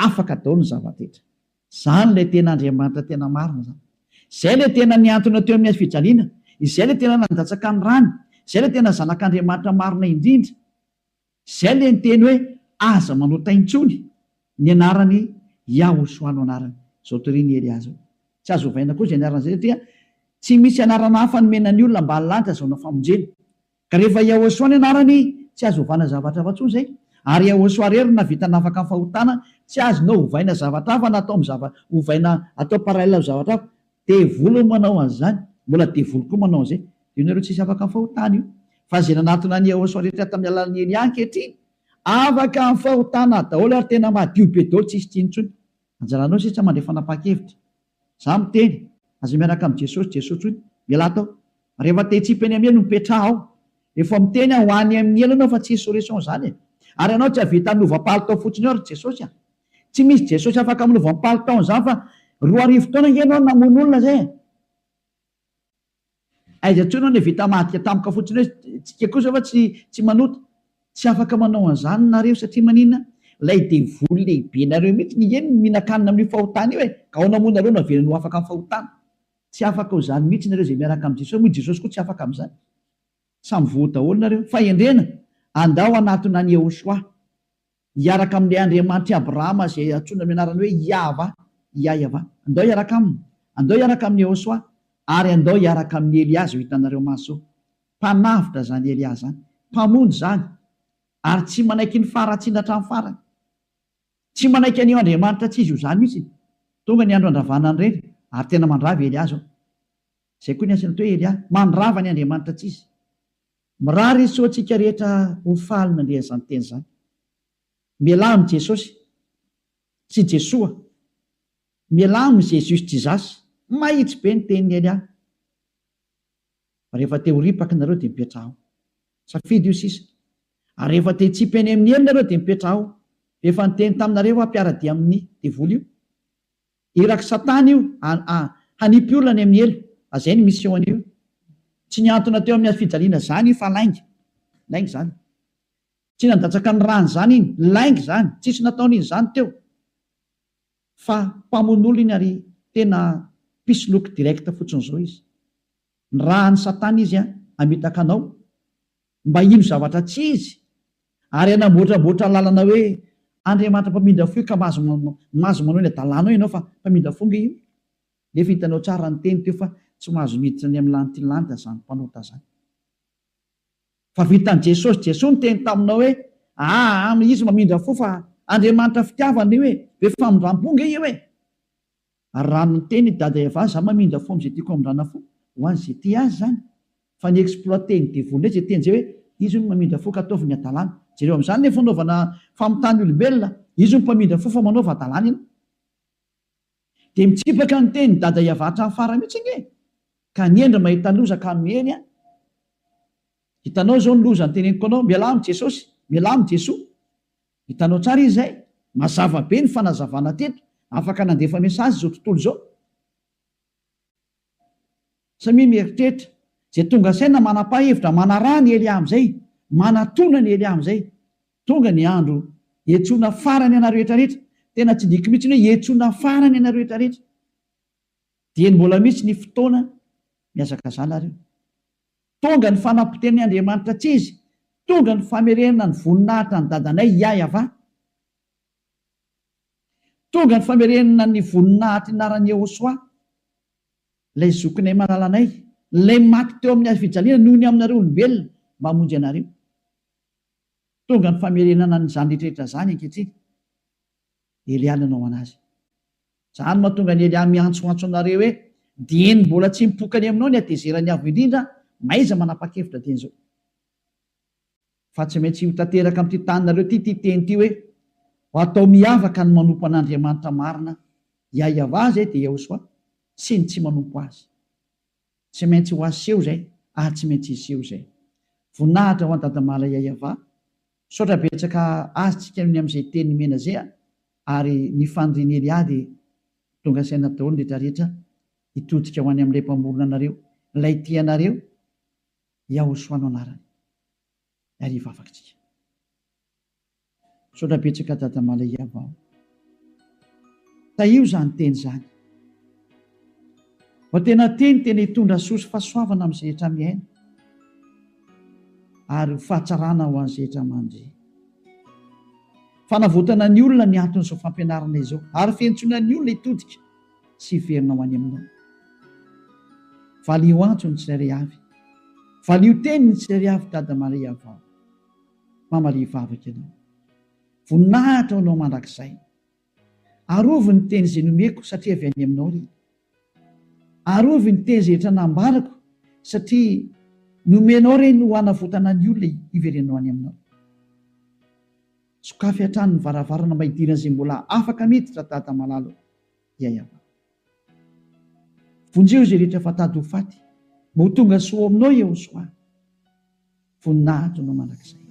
Afaka daholo ny zava-drehetra. Izany ilay tena Andriamanitra tena marina izany. Izay ilay tena nihantona teo amin'ny hazo fijaliana, izay ilay tena nandatsaka ny rany, izay ilay tena Zanak'Andriamanitra marina indrindra. Izay ilay niteny hoe aza manao tay intsony ny anaran'i Yahoshua no anarany. Izao torin'i Elia izao. Tsy azo ovaina koa izay anaran'izay satria tsy misy anarana hafa nomena ny olona mba hahalany sy hazahoana famonjena. Ka rehefa Yahoshua ny anarany tsy azo ovana zavatra hafa intsony izay. Ary Yahoshua irery no nahavita nafaka ny fahotana, tsy azonao ovaina zavatra hafa na atao ovaina atao parallel amin'ny zavatra hafa. Devoly no manao an'izany, mbola devoly koa manao an'izay. Dia ianareo tsisy afaka fahotana io. Fa izay nanatona an'i Yehosua rehetra tamin'ny alalan'i Elia ankehitriny, afaka amin'ny fahotana daholo ary tena madio be daholo, tsisy tsy intsony. Anjaranao sisa mandray fanapahan-kevitra. Izaho miteny, aza miaraka amin'i Jesosy, Jesosy hoy, Mialà tao. Rehefa te-hitsipy any amin'ny helo, mipetraha ao. Efa miteny aho, ho any amin'ny helo ianao fa tsy insurrection izany e. Ary ianao tsy hahavita hanova palitao fotsiny ao ry Jesosy a. Tsy misy Jesosy afaka amin'ny voampalo taona izany fa roa arivo taona ange ianao no namono olona izay e! Aiza intsony aho le vita madika tampoka fotsiny hoe tsika kosa va tsy tsy manota? Tsy afaka manao an'izany nareo satria maninona? Ilay devoly lehibe nareo mihitsy ny eny no mihinan-kanina amin'io fahotana io e! Ka ahoana moa nareo no havelany ho afaka amin'ny fahotana? Tsy afaka ho izany mihitsy nareo izay miaraka amin'i Jesosy, moa i Jesosy koa tsy afaka amin'izany? Samy voa daholo nareo. Fahendrena, andao hanatona an'i Yehoshuah. Hiaraka amin'ilay Andriamanitr'i Abrahama izay antsoina amin'ny anarany hoe Iahvah, Iaiavah. Andao hiaraka aminy. Andao hiaraka amin'i Yehosua, ary andao hiaraka amin'i Elia izao hitanareo maso. Mpanavotra izany Elia izany. Mpamonjy izany. Ary tsy manaiky ny faharatsiana hatramin'ny farany. Tsy manaiky an'io Andriamanitra tsy izy io izany mihitsy. Tonga ny andro handravana an'i Reny, ary tena mandrava i Elia izao. Izay koa ny asan'ito hoe Elia, mandrava ny Andriamanitra tsy izy. Mirary isoa antsika rehetra ho faly nandre an'izany teny izany. Mialà amin'i Jesosy, sy Jesoa. Mialà amin'i Jesus Jesus. Mahitsy be ny tenin'i Elia. Rehefa te ho ripaka nareo dia mipetraha ao. Safidy io sisa. Ary rehefa te hitsipy any amin'ny helony nareo dia mipetraha ao. Rehefa niteny taminareo aho mpiara-dia amin'ny devoly io. Irak'i Satana io hanipy olona any amin'ny helo. Azay ny mission-ny io. Tsy nihantona teo amin'ny hazofijaliana izany io fa lainga. Lainga izany. Tsy nandatsaka ny rany izany iny. Lainga izany. Tsisy nataon'izy izany teo. Fa mpamono olona iny ary tena mpisoloky direct fotsiny izao izy. Ny raha an'i Satana izy hamitaka anao. mba hino zavatra tsy izy, ary hanamboatramboatra lalana hoe Andriamanitra mpamindra fo io ka mahazo mahazo manao ny hadalana ao ianao fa mpamindra fo nge io nefa hitanao tsara ny teny teo fa tsy mahazo miditra ny amin'ny lanitry ny lanitra zany mpanota zany fa vitan'i Jesosy Jesoa niteny taminao hoe aa izy mamindra fo fa Andriamanitra fitiavana io e be famindrampo nge io e Ary raha miteny i Dada Eva za mamindra fo amzay tiako hamindrana fo ho an ze tia azy zany fa ny exploiter ny devoly ndray ze teny zay hoe izy hono mamindra fo ka ataovy ny adalana jereo amzany le fanaovana famitany olombelona izy hono mpamindra fo fa manaova adalana ianao de mitsipaka ny teny Dada Eva hatrany farany mitsy ange ka ny hendry mahita loza ka miely an hitanao zao ny loza ny teneniko anao mialà am jesosy mialà am jesoa Hitanao tsara izy izay? Mazava be ny fanazavana teto. Afaka nandefa message izao tontolo izao. Samia mieritreritra. Izay tonga saina manapa hevitra manaraha ny Elia amin'izay. Manatona ny Elia amin'izay. Tonga ny andro hiantsoana farany anareo rehetra rehetra. Tena tsy diko mihitsy ny hoe hiantsoana farany ianareo rehetra rehetra. Dieny mbola misy ny fotoana mihazakazana ary io. Tonga ny fanapoteni Andriamanitra tsy izy, tonga ny famerenana ny voninahitra an'i Dadanay Iaiavà. Tonga ny famerenana ny voninahitry ny anaran'i Iehosoa, ilay zokinay malalanay, ilay maty teo amin'ny hazo fijaliana noho ny aminareo olombelona mba hamonjy anareo. Tonga ny famerenana an'izany rehetra rehetra izany ankehitriny. Elià nanao an'azy. Zany mahatonga an'i Elià miantsoantso anareo hoe, Dieny mbola tsy mipoka any aminao ny hatezeran'ny Avo Indrindra, mahaiza manapa-kevitra dieny izao. Fa tsy maintsy ho tanteraka amin'ity taninareo ity ity teny ity hoe, Ho atao miavaka ny manompo an'Andriamanitra marina, Iahiavà izay dia Iahosoà, sy ny tsy manompo azy. Tsy maintsy ho aseho izay, ary tsy maintsy hiseho izay. Voninahitra ho an'i Dadamala Iahiavà, Misaotra betsaka azy tsika ny amzay teny nomena zay a! ary ny faniriany ely ah de tonga saina daolo ny retra retra hitodika ho any amlay mpamorona anareo lay tia anareo Yahosoa no anarany ary hivavaka tsika. Misaotra betsaka dada Malay Yavao. Tahio izany teny izany. Fa tena teny tena hitondra soa sy fahasoavana amin'ny zehetra miaina ary ho fahatsarana ho an'ny zehetra mandry. Fanavotana ny olona ny anton'izao fampianarana izao ary fiantsoana ny olona hitodika sy hiverina ho any Aminao. Valio antso ny tsirairay avy. Valio teny ny tsirairay avy Dada Maria vao. Mama Lia vavaka Ianao. Voninahitra ho Anao mandrakizay. Arovy ny teny izay nomeko satria avy any Aminao ry. Arovy ny teny izay efa nambarako satria nomenao ireny ho hanavotana ny olona hiverenao any Aminao. Sokafy hatrany ny varavarana mba hidiran'izay mbola afaka miditra Dada malala o. Ya Yavah. Vonjeo izay rehetra efa tady ho faty mba ho tonga soa ao Aminao Yehosoa. Voninahitro Anao mandrakizay.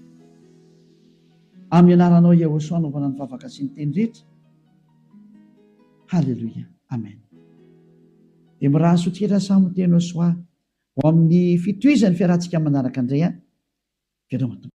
Amin'ny anaranao Yahosua anaovana ny vavaka sy ny teny rehetra. Haleloia. Amen. Dia miraha soa tira Samo Teno Soa ho amin'ny fitohizan'ny fiarahantsika manaraka indray an. Veloma Tompo.